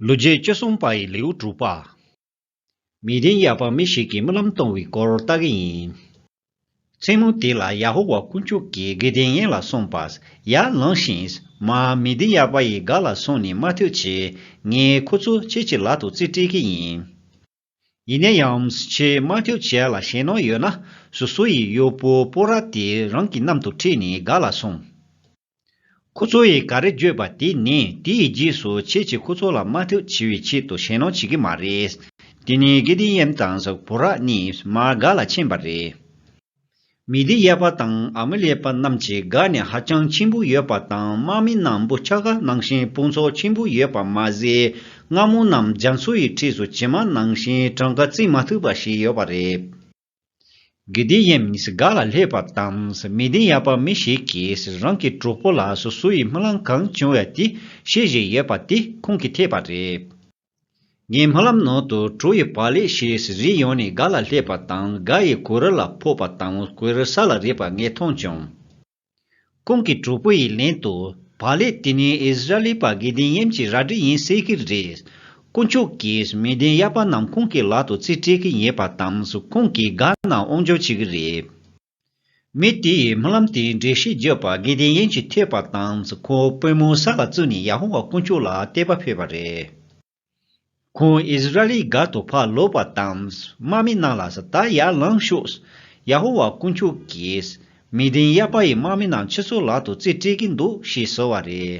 ལོ་རྒྱུས་བཅུ་གསུམ་པ་ཡི་ལེའུ་དྲུག་པ། མི་བདེན་ཡ་པ་མི་ཞིག་གིས་རྨི་ལམ་སྟོང་བའི་སྐོར་ལྟ་གི་ཡིན། མཚན་མོ་དེ་ལ་ཡ་ཧོ་ཝཱ་དཀོན་མཆོག་གིས་གི་དེ་ངན་ལ་སོང་པ་ཡ་ལངས་ཤིང། མ་མི་བདེན་ཡ་པ་ཡི་ག་ལ་སོང་ནས་མ་ཐོས་ཆེད་ངས་ཁོ་ཚོ་ཁྱེད་ཀྱི་ལག་ཏུ་རྩིས་སྤྲད་གི་ཡིན། ཡིན་ན་ཡང་ཕྱེ་མ་ཁྱོད་བྱས་ལ་ཞེད་སྣང་ཡོད་ན་སུ་སུ་ཡིས་གཡོག་པོ་སྤོ་ར་དེ་རང་གི་གནམ་དུ་ཁྲིད་ནས་ག་ལ་སོང། ཁོ་ཚོ་ཡིས་ག་རེ་བརྗོད་པ་དེ་ནི་དེ་ཡི་རྗེས་སུ་ཁྱེད་ཀྱིས་ཁོ་ཚོ་ལ་དམའ་འཐུག་བྱེད་པའི་ཆེད་དུ་ཞེད་སྣང་བྱེད་ཀྱི་མ་རེད། དེ་ནས་དགེ་ལྡན་ཡེམ་དང་སྤོ་ར་གཉིས་མར་སྒར་ལ་ཕྱིན་པ་རེད། མི་སྡེ་གཡས་པ་དང་ཨ་མི་ལེ་པ་རྣམས་ཀྱི་དགའ་ནི་ཧ་ཅང་ཆེན་པོ་ཡོད་པ་དང་དམག་མི་རྣམས་བུ་ཆ་ག་ནང་བཞིན་དཔུང་ཚོགས་ཆེན་པོ་ཡོད་པ་མ་ཟད་རྔ་མོང་རྣམས་རྒྱ་མཚོ་ཡི་འཁྲིས་སུ་བྱེ་མ་ནང་བཞིན་གྲངས་ཀ་བརྩི་མ་ཐུབ་པ་ཞིག་ཡོད་པ་རེད། དགེ་སྡེ་གཡས་མིས་དགའ་ལ་ལྷས་པ་དང་མི་སྡེ་གཡས་པ་མི་ཞིག་གིས་རང་གི་གྲོགས་པོ་ལ་སོ་སོ་ཡི་རྨི་ལམ་གང་བྱུང་བ་དེ་བཤད་བཞིན་ཡོད་པ་དེ་ཁོང་གིས་ཐེག་པ་རེད། ངའི་སྨོན་ལམ་ནང་དུ་བྲོ་ཡི་བག་ལེབ་ཞེས་རིགས་ཡོངས་ནས་ག་ལ་སླེབས་པ་དང་ག་ཡི་གོས་རི་ལ་ཕོག་པ་དང་གོས་རི་ས་ལ་རེག་པ་ངས་མཐོང་བྱུང། ཁོང་གིས་བྲོ་བུ་ཡི་ལན་དུ་བག་ལེབ་དེ་ནི་ཨིས་ར་ལི་པ་དགེ་ལྡན་ཡེམ་གྱི་རལ་གྲི་ཡིན་ཟེར་གྱི་རེད། དཀོན་མཆོག་གིས་མི་བདེན་གཡར་པ་རྣམས་ཁོང་གི་ལག་ཏུ་རྩིས་སྤྲད་ཀྱི་ཡིན་པ་དང་ཁོང་གིས་དགའ་ན་དབང་འབྱོར་བྱེད་ཀྱི་རེད། མི་དེས་སྨོན་ལམ་དེའི་འགྲེལ་བཤད་བརྒྱབ་པ་དགེ་ལྡན་ཡན་གྱིས་ཐོས་པ་དང་ཁོ་དཔོན་མོ་ས་ལ་བཙུད་ནས་ཡ་ཧོ་ཝཱ་དཀོན་མཆོག་ལ་བལྟས་པ་ཕེབས་པ་རེད། ཁོང་ཨིས་ར་ཨེལ་སྒར་དུ་ཕར་ལོག་པ་དང་དམག་མི་རྣམས་ལ་ད་ཡར་ལངས་ཤོག། ཡ་ཧོ་ཝཱ་དཀོན་མཆོག་གིས་མི་དན་ཡཱ་པཱ་ཡི་དམག་མི་རྣམས་ཁྱེད་ཚོའི་ལག་ཏུ་རྩིས་སྤྲད་ཀྱི་འདུག་ཞེས་ཟེར་བ་རེད།